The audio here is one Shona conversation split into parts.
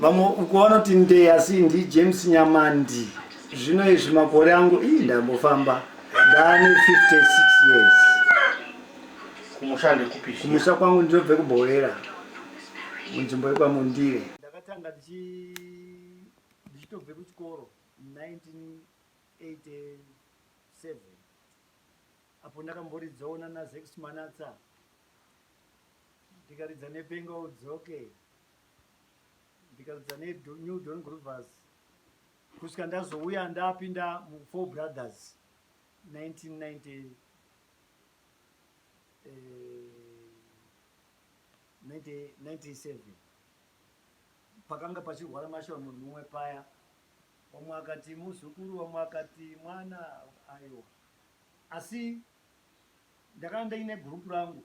vamwe uko vanoti ndee asi ndi james nyamandi zvino izvi makore angu ii ndambofamba ndaane 56 years kumusha kwangu ndinobve kubhowera munzvimbo yekwamundire ndakatanga ndichitobve kuchikoro 1987 apo ndakamboridzawo nanazex manatsa ndikaridza nepenga udzoke okay. ndikadzidza nenew don groovers kusvika ndazouya ndapinda mufour brothers 1990 1997 eh, pakanga pachirwara mashura munhu mumwe paya vamwe akati muzukuru vamwe akati mwana ayo asi ndakanga ndaine gurupu rangu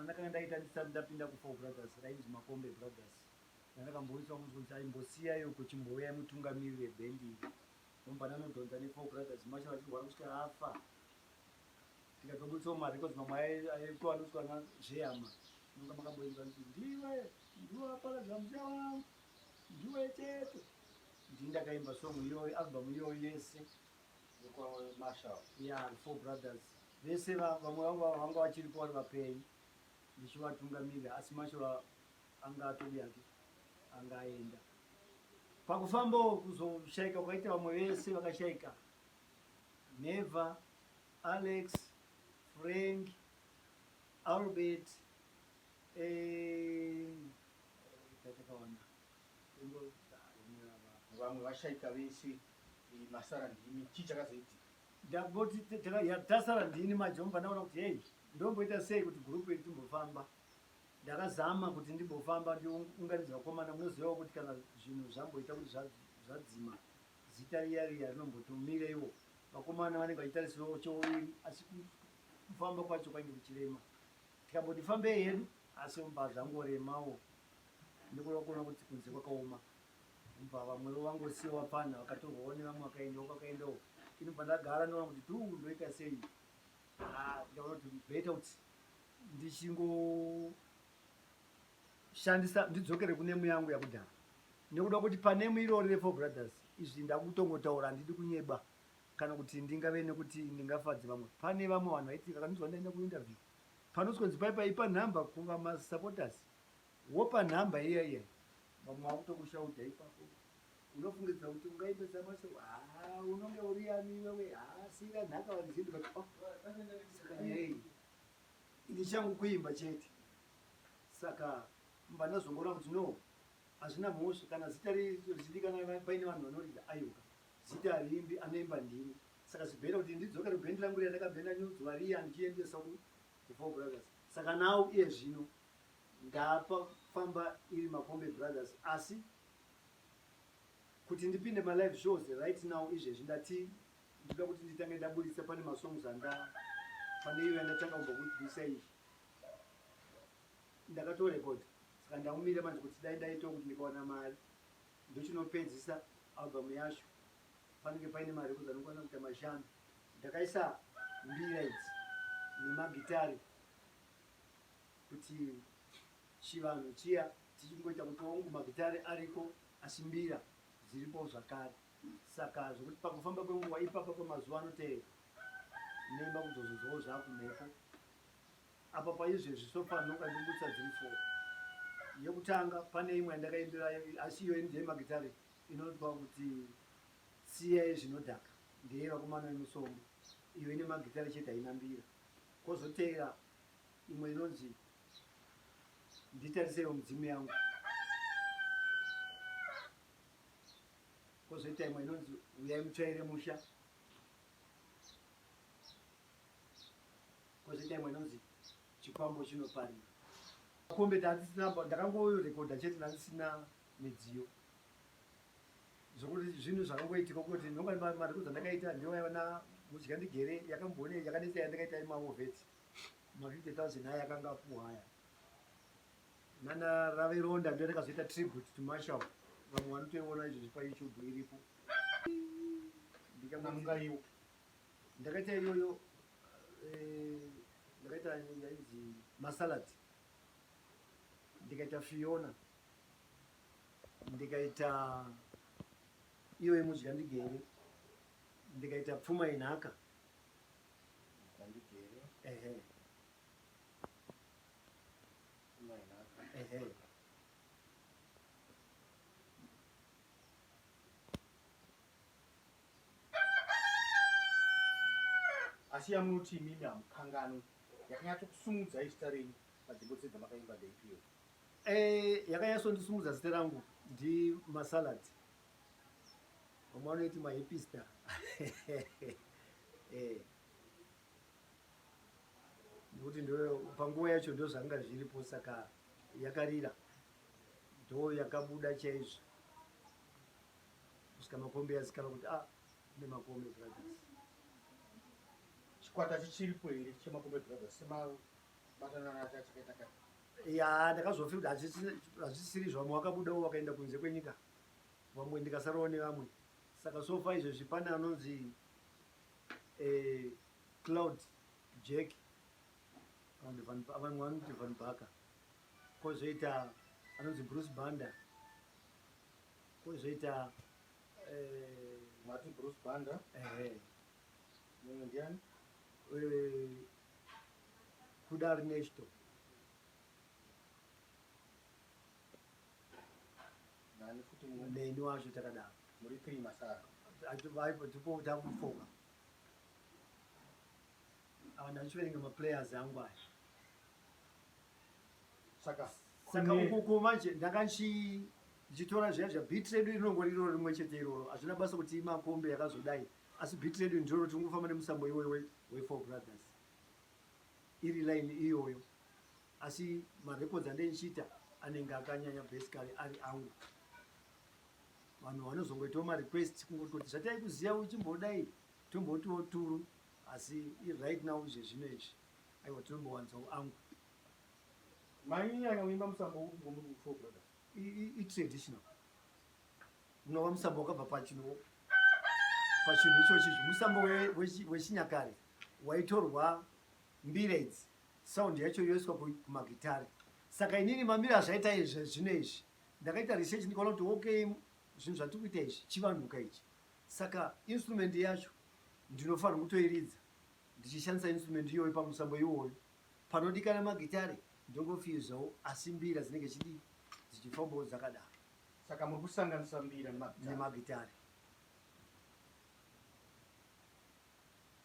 Ndakanga ndaita ndisati ndapinda kuFour Brothers rainzi Makombe Brothers randakamboiswa kunzwa kuti aimbosiya iyo kuchimbouya mutungamiri webhendi iri ndombva ndanodhonza neFour Brothers Marshall achirwara kusvika afa tikatoburitsawo marecords mamwe aitwa anoiswa nazvehama nonga makamboinzwa kuti ndiwe ndiwe waparadza musha wangu ndiwe chete ndii ndakaimba song iyoyo album iyoyo yese Yeah, four brothers vese vamwe vangu vanga vachiripo vari vapenyu ndichivatungamirira asi mashava anga atodi ake anga aenda pakufambawo kuzoshaika kwaita vamwe vese vakashaika neva alex frank albert eh, Vamwe vashaika vese eh, masara ndimi chii chakazoitika? ndangoti te- teka- ya- tasara ndini manje ndobva ndaona kuti hei ndomboita sei kuti gurupu iri timbofamba ndakazama kuti ndimbofamba ndiunganidza vakomana munozivawo kuti kana zvinhu zvamboita kuti zva- zvadzima zita riya riya rinombotomireiwo vakomana vanenge vachitarisirawo chouviri asi ku- kufamba kwacho kwainge kuchirema tikamboti fambei hedu asi mba zvangoremawo Ndokureva kuona kuti kunze kwakaoma kubva vamwewo vangosiya vapfanha vakatorwawo nevamwe vakaendawo kwakaendawo inobva ndagara ndoona kuti duu ndoita sei ah, ndaona kuti beta kuti ndichingoshandisa ndidzokere kunemu yangu yakudhara nekuda kuti panemu irori refour brothers izvi ndakutongotaura handidi kunyeba kana kuti ndingave nekuti ndingafadze vamwe pane vamwe vanhu vaiti kakanzwa ndaenda kuinterview panotsonzi paipa ipa nhamba kuva masupporters Wopa number iya iya vamwe vakutokushauta ipapo unofungidzira kuti ungaimbe dzamwese haa unonge uri yami iwewe haa siira nhaka vanizindika oh, saka nei ini changu kuimba chete saka mba ndazongoona kuti no hazvina mhosva kana zita richizivikanwa paine vanhu vanorida aiwa zita riimbi anoimba ndini saka zvibhenda kuti ndidzokere bhendi rangu riya ndakabhenda nyudzo variya ndichiendesa kufour brothers saka nawo iye zvino Ndapa famba iri Makombe Brothers asi kuti ndipinde ma live shows right now izvezvi ndati ndoda kuti nditange ndaburitsa pane masongs anda pane iyo yandatanga kumba kuisa iyi ndakatorecord saka ndaumire manje kuti dai ndaitawo kuti ndikawana mari ndochinopedzisa album yacho panenge paine mari ekuti anokwanisa kuita mashanu ndakaisa mbira idzi nemagitari kuti chivanhu chiya tichingoita kuti wangu magitare ariko asi mbira dziripo zvakare saka zvokuti pakufamba kwenguva ipapa pamazuva anotevera nemba kuzozozwawo zvakumhepo apa paizvezvi sopanoka ndikutsa dziri fo yekutanga pane imwe yandakaimbirayo asi iyoyi ndeye magitare inotwa kuti siyai zvinodhaka ndeye vakomana vemusombo iyo ine magitare chete haina mbira kozotevera imwe inonzi nditarisewo midzimu yangu kozoita imwe inonzi uyai mutsvaire musha kozoita imwe inonzi chikwambo chinoparira kombe ndandisina ndakangorekodha chete ndandisina midziyo zvokuti zvinhu zvakangoitika kuti nonga mari kudzandakaita ndiyo yavana mudya ndigere yakamboone yakanetsa yandakaita yemaovet ma 50000 aya akanga apuwa aya nana rave ronda ndio rakazoita tribute to marshal vamwe vanotoiona izvozvi pa youtube iripo ndikamungaiwo ndakaita iyoyo eh, ndakaita yainzi masalad ndikaita fiona ndikaita iyoyo mudya ndigere ndikaita pfuma inhaka Ndigere. Ehe. Mai naka. Ehe. asi yamunoti imimi hamukanganwi yakanyatsokusumudza izita renyu padzimbo dze dzamakaimba dzeipiro eh, yakanyatsondisumudza zita rangu ndimasalads vamwe vanoiti mahipista eh. nekuti panguva yacho ndo zvanga zviripo saka yakarira ndo yakabuda chaizvo kusvika makombe yazikana kuti a ah, ne makombe brothers chikwata chichiripo here chemakombe brothers semabatananachachakaita ka ya ndakazofira kuti hazvisiri zvamwe wakabudawo wakaenda kunze kwenyika vamwe ndikasarawo nevamwe saka sofa izvezvi pane anonzi eh, cloud jack vamwe vanoti van baka kozoita anonzi bruce banda kozoita eh, mati bruce banda mumwe ndiani eh, kuda rinesto Nani futi mu. Neni wacho takadaro. Muri three masara. Vaipo ndipo takufoka. Awa ndachiverenga maplayers angu aya. Saka saka ukoko manje ndakanchi ndichitora zviya zva beat redu rinongori iroro rimwe chete iroro hazvina basa kuti imakombe yakazodai asi beat redu ndiroro tingofamba nemusambo iwoyo wefour brothers iri line iyoyo Asi ma records andendichiita anenge akanyanya basically ari angu. Vanhu vanozongoitawo ma requests kungototi zvataikuziva uchimbodai tombotiwo turu asi right now izve zvino izvi aiwa tinombowanzawo angu. Mainyanya kuimba musambo upi kwamuri kufour brothers? I traditional. Unova musambo wakabva pachino pachinhu ichochi musambo wechinyakare waitorwa mbira idzi Sound yacho yoiswa kumagitare. Saka inini mamiri azvaita izvi zvino izvi ndakaita research ndikaona kuti okay zvinhu zvatiri kuita izvi chivanhuka ichi. Saka instrument yacho ndinofanira kutoiridza ndichishandisa instrument iyoyo pamusambo iwoyo. Panodikana magitare ndongofiyuzawo asi mbira dzinenge chidi dzichifambawo dzakadaro. Saka muri kusanganisa mbira nemagitare.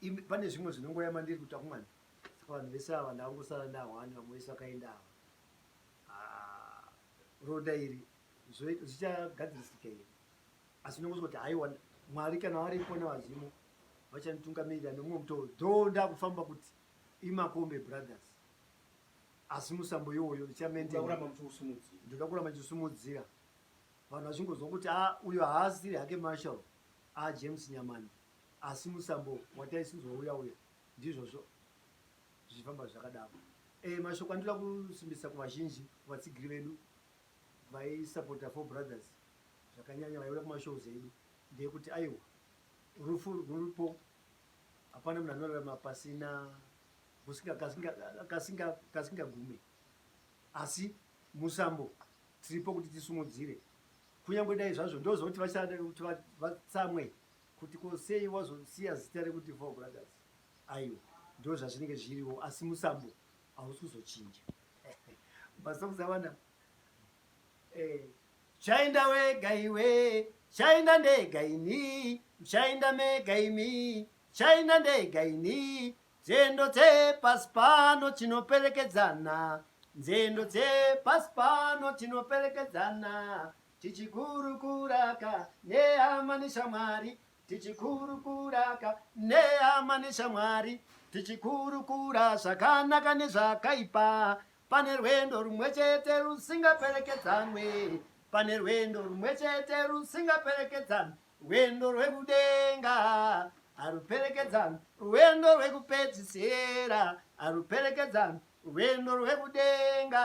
Imi pane zvimwe zvinongoya mandiri kuta kumwana. Saka vanhu vese ava ndangosara na one vamwe vese vakaenda ava. Ah, roda iri zvichagadzirisika iri. Asi ndongoswa kuti haiwa Mwari kana vari kona vazimu vachanitungamirira nomwe mutoro. Dho ndakufamba kuti imakombe brothers. Asi musambo yoyo ndichamente. Ndoda kuramba ndichisumudzira. Vanhu vachingozwa kuti ah uyo haasiri hake Marshall. Ah James Nyamani. Asi musambo wataisidzwa uya uya ndizvozvo zvichifamba zvakadaro. E, mashoko andinoda kusimbisa kuvazhinji, kuvatsigiri vedu vaisapota Four Brothers zvakanyanya, vaiuya kumashows edu, ndeyekuti aiwa, rufu ruripo, hapana munhu anorarama pasina kasingagume, asi musambo tiripo kuti tisumudzire, kunyange dai zvazvo ndozoti vatsamwe Kuti ko sei wazosiya zita rekuti Four Brothers? Aiwa, ndozvazvinenge zviriwo asi musambo hausi kuzochinja. Masongs awana eh, chainda wega iwe chainda ndega ini chainda mega imi chainda ndega ini nzendo dzepasi pano tinoperekedzana nzendo dzepasi pano tinoperekedzana tichikurukuraka nehama neshamwari tichikurukuraka nehama neshamwari tichikurukura zvakanaka nezvakaipa pane rwendo rumwe chete rusingaperekedzanwe pane rwendo rumwe chete rusingaperekedzanwe rwendo rwekudenga haruperekedzanwe rwendo rwekupedzisira haruperekedzanwe rwendo rwekudenga